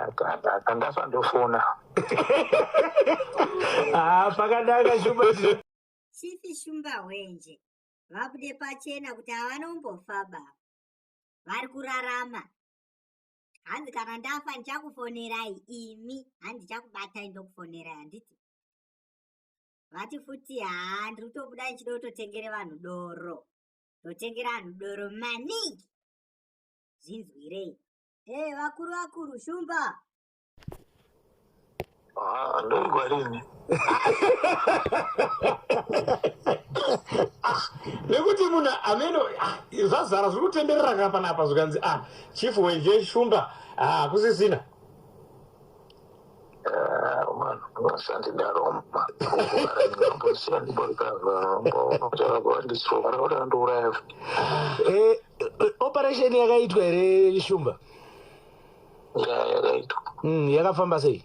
Ndakanga ndofona. Ah, pakadaka shumba. Chifi shumba hwenje. Vabude pachena kuti havana umbofa baba. Vari kurarama. Hanzi kana ndafa ndichakufonerai imi hanzi ndichakubatai ndokufonerai handiti. Vati futi haa ndiri kutobuda ndichida kutotengere vanhu doro. Ndotengera vanhu doro maningi. Zvinzwirei. Hey, eh, vakuru vakuru shumba. Ah, ndoigwa rini. Ah, nekuti munhu ameno ah, zvazara zviri kutenderera ka panapa zvikanzi ah chief weje shumba hakusisina eh, operation yakaitwa here shumba yakaitwa mm, yakafamba sei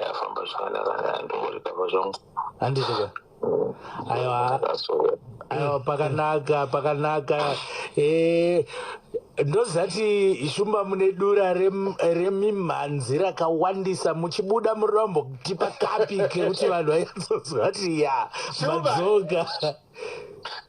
yafamba zvakanaka ndongorikava zvangu handizvika mm. aiwa aiwa pakanaka pakanaka eh, ndozati shumba mune dura remimhanzi rem, rakawandisa muchibuda murombo kutipa kapi kekuti vanhu vaizozvati ya madzoka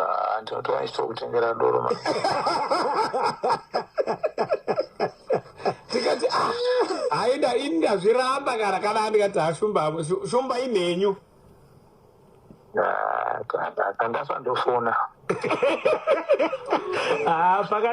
Ah, ndinotora ndichito kutengera doro ma tikati ah, haida ini ndazviramba kana kana andikati ashumba hamwe Shu- shumba inhenyu Ah, kana- kana ndasandofona Ah, paka